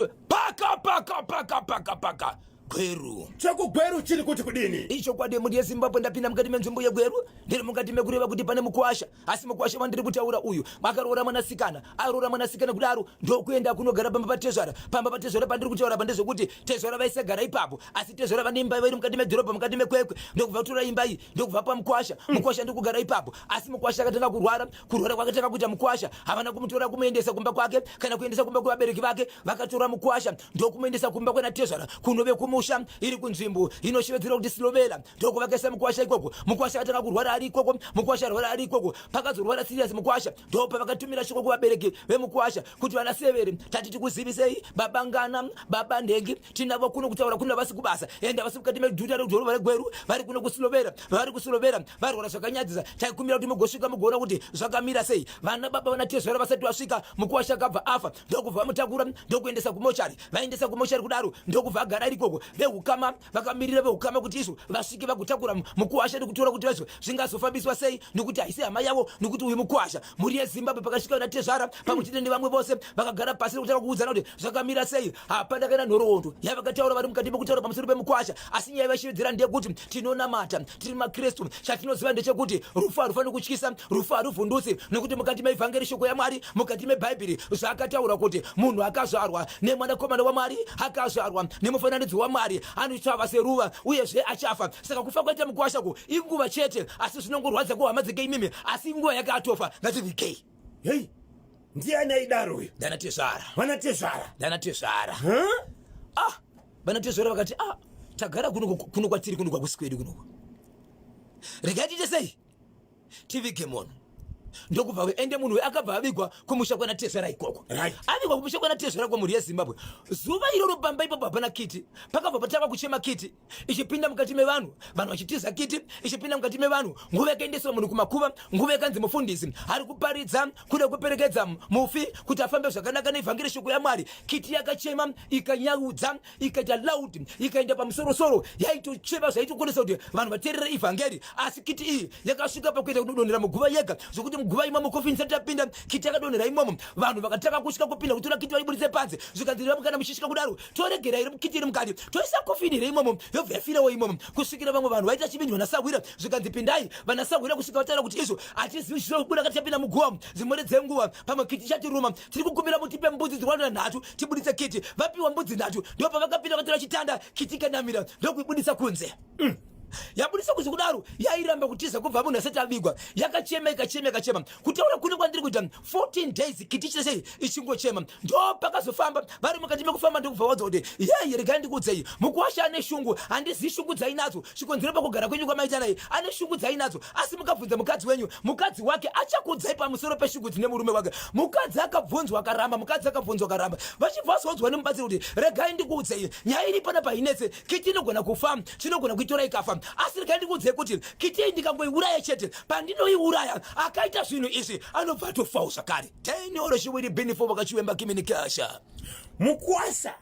paka paka paka paka paka gweru chekugweru chiri kuti kudini ichokwadi mhuri yezimbabwe ndapinda mukati menzvimbo yegweru ndiri mukati mekureva kuti pane mukwasha asi mukwasha wandiri kutaura uyu makaroora mwanasikana aroora mwanasikana kudaro ndokuenda kunogara pamba patezvara pamba patezvara pandiri kutaura pandezvekuti tezvara vaisagara ipapo asi tezvara vane imba vairi mukati medhorobha mukati mekwekwe ndokubva kutora imba iyi ndokubva pamukwasha mm. mukwasha ndiri kugara ipapo asi mukwasha akatanga kurwara Kurwara kwakatanga kuita mukwasha, havana kumutora kumuendesa kumba kwake kana kuendesa kumba kwevabereki vake, vakatora mukwasha ndokumuendesa kumba kwenatezvara kunove kumusha iri kunzvimbo inoshevedzerwa kuti Silovela, ndokuvakaisa mukwasha ikoko. Mukwasha akatanga kurwara ari ikoko, mukwasha arwara ari ikoko, pakazorwara serious mukwasha, ndopa vakatumira shoko kuvabereki vemukwasha kuti vana Severe, tati tikuzivisei baba Ngana, baba Nhengi, tinavo kuno kutaura kuna vasi kubasa enda vasi mukati meguta redhorobha regweru vari kuno kusilovera vari kusilovera varwara zvakanyadzisa taikumbira kuti mugosvika mugoona kuti zvakamira sei vana baba vana tezvara vasati vasvika mukuwasha akabva afa ndokubva vamutakura ndokuendesa kumochari vaendesa kumochari kudaro ndokubva agara ari ikoko vehukama vakamirira vehukama kuti izvo vasvike vagotakura mukuwasha nekutora kuti vaizvo zvingazofambiswa sei nekuti haisi hama yavo nekuti uyu mukuwasha mhuri yezimbabwe pakasvika vana tezvara pamwe chete nevamwe vose vakagara pasi nekutanga kuudzana kuti zvakamira sei hapana kana nhoroondo yavakataura vari mukati mekutaura pamusoro pemukwasha asi nyaya yavashevedzera ndeyekuti tinonamata tiri makristu chatinoziva ndechekuti rufu harufaniri kutyisa rufu haruvhundutsi nekuti mukati meivhangeri shoko yamwari mukati mebhaibheri zvaakataura kuti munhu akazvarwa nemwanakomana wamwari akazvarwa nemufananidzo wamwari anochava seruva uyezve achafa saka kufa kwaita mukwasha ku inguva chete asi zvinongorwadza kuhama dzeke imimi asi inguva yakatofa ngativigei hei Ndiani aidaro uyu? Ndana tezvara. Vana tezvara. Ndana tezvara. Huh? Ah, vana tezvara vakati ah, tagara kuno kuno kwatiri kuno kwakusi kwedu kuno. Regai tiite sei? Tivige munhu. ndokubva ende munhu akabva avigwa kumusha kwana tezvara ikoko right. avigwa kumusha kwana tezvara kwamhuri yezimbabwe zuva iroro pamba ipapo hapana kiti pakabva patanga kuchema kiti ichipinda mukati mevanhu vanhu vachitiza kiti ichipinda mukati mevanhu nguva yakaendeswa munhu kumakuva nguva yakanzi mufundisi ari kuparidza kuda kuperekedza mufi kuti afambe zvakanaka nevhangeri shoko yamwari kiti yakachema ikanyaudza ikaita loud ikaenda pamusorosoro yaitochema zvaitokonesa kuti vanhu vateerera ivhangeri asi kiti iyi yakasvika pakuita kudonhera muguva yega zvokuti muguva imomo kofini isati yapinda kiti yakadonhera imomo vanhu vakatanga kusvika kupinda kutora kiti vaiburitse panze zvikanzi ramukana muchisvika kudaro toregera iri mukiti iri mukati toisa kofini iri imomo yobva yafirewo imomo kusvikira vamwe vanhu vaita chibinji vanasahwira zvikanzi pindai vanasahwira kusvika vataura kuti izvo hatizivi chiro kubuda kati chapinda muguva dzimwere dzenguva pamwe kiti chatiruma tiri kukumbira mutipe mbudzi dzirwanira nhatu tibuditse kiti vapiwa mbudzi nhatu ndipo pavakapinda vatora chitanda kiti ikanamira ndokuibuditsa kunze mm. yabudisa kuti kudaro yairamba kutiza kubva munhu asati avigwa yakachema ikachema ikachema kutaura kune kwandiri kuita 14 days kiti chese ichingochema ndo pakazofamba vari mukati mekufamba ndikubva wadza kuti yei regai ndikuudzei mukuwasha ane shungu handizivi shungu dzainadzo chikonzero pakugara kwenyu kwamaita naye ane shungu dzainadzo asi mukabvunza mukadzi wenyu mukadzi wake achakudzai pamusoro peshungu dzine murume wake mukadzi akabvunzwa akaramba mukadzi akabvunzwa akaramba vachibva vazodzwa nemubatsiri kuti regai ndikuudzei nyaya iri pana painetse kiti inogona kufa chinogona kuitora ikafa asi regai ndikuudzei kuti kiti iyi ndikangoiuraya chete pandinoiuraya akaita zvinhu izvi anobva atofawo zvakare tenoro chiwiri binifo vakachiwemba kiminikasha mukwasha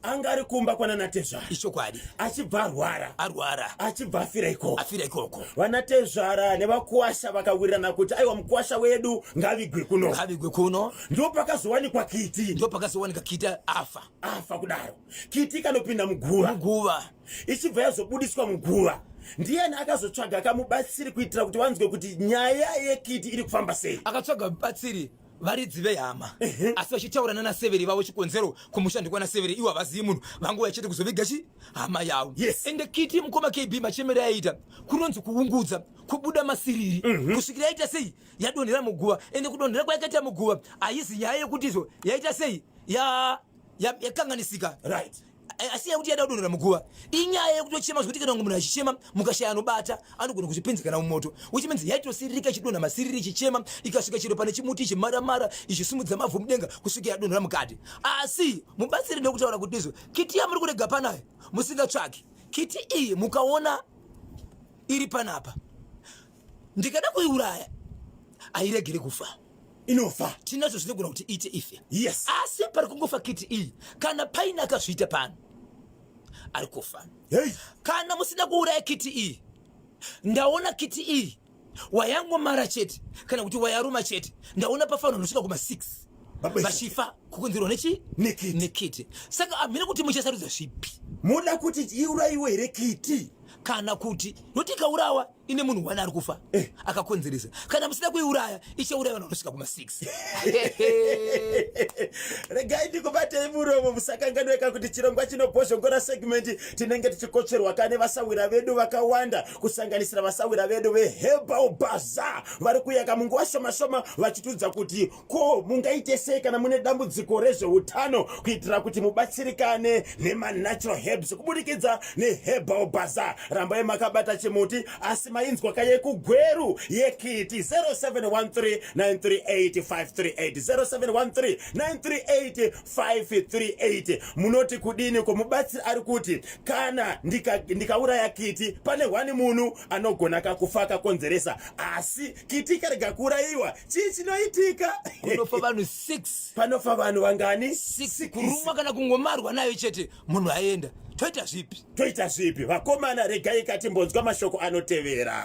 anga ari kumba kwananatezvara ichokwadi achibva arwara arwara achibva afira ikoko afira ikoko vanatezvara nevakuwasha vakawirirana kuti aiwa mukuwasha wedu ngavigwe kuno ngavigwe kuno ndo pakazowanikwa kiti ndo pakazowanika kiti afa afa kudaro kiti ikanopinda muguva muguva ichibva yazobudiswa muguva ndiyani akazotsvaga akamubatsiri kuitira kuti vanzwe kuti nyaya yekiti iri kufamba sei akatsvaga mubatsiri varidzi vehama asi vachitaura nana severi vavo chikonzero kumusha ndikwana severi ivo havazivi munhu vangu vachete kuzoviga chi hama yavo yes. ende kiti mukoma kb machemero aiita kunonzi kuungudza kubuda masiriri mm -hmm. kusvikira aita sei yadonhera muguva ende kudonhera kwayakaita muguva haizi nyaya yekuti izvo yaita sei yakanganisika ya, ya right asi yakuti yada kudonhera muguva inyaya yekutochema zvekuti kana munhu achichema mukashaya anobata anogona kuzvipinzikana mumoto which means yaitosiririka ichidonha masiriri ichichema ikasvika chero pane chimuti ichimaramara ichisumudza mavhu mudenga kusvika yadonhera mukati asi mubatsiri ndokutaura kuti izvo kiti yamuri kurega panayo musingatsvaki kiti iyi mukaona iri panapa ndikada kuiuraya airegere kufa inofa tinazvo zvinogona kuti iite ife yes asi pari kungofa kiti iyi kana paine akazviita pano ari kufa hey. kana musina kuuraya kiti iyi ndaona kiti iyi wayangomara chete kana kuti wayaruma chete ndaona pafanira nosvika kuma 6 vachifa kukonzerwa nechi nekiti saka hamina kuti muchasarudza zvipi muda kuti iuraiwe here kiti kana kuti noti ikaurawa ine munhu one ari kufa eh. akakonzeresa kana musina kuiuraya ichauraya vanhu vanosvika kuma 6 regai ndikubatei muromo musakanganweka kuti chirongwa chinobhozhongora segmenti tinenge tichikotsverwa kane vasawira vedu vakawanda kusanganisira vasawira vedu vehebal baza vari kuyaka munguva shomashoma vachitiudza kuti Ko mungaite sei kana mune dambudziko rezveutano kuitira kuti mubatsirikane nemanatural herbs kuburikidza neherbal bazaar? Rambai makabata chimuti asi mainzwa kaye kugweru yekiti 0713938538 munoti kudini ko mubatsiri ari kuti kana ndikauraya ndika kiti pane hwani munhu anogona kakufa akakonzeresa asi kiti ikarega kuurayiwa chii chinoitika kunofa vanhu six panofa vanhu vangani six kurumwa kana kungomarwa nayo chete munhu aenda toita zvipi toita zvipi vakomana regai katimbonzwa mashoko anotevera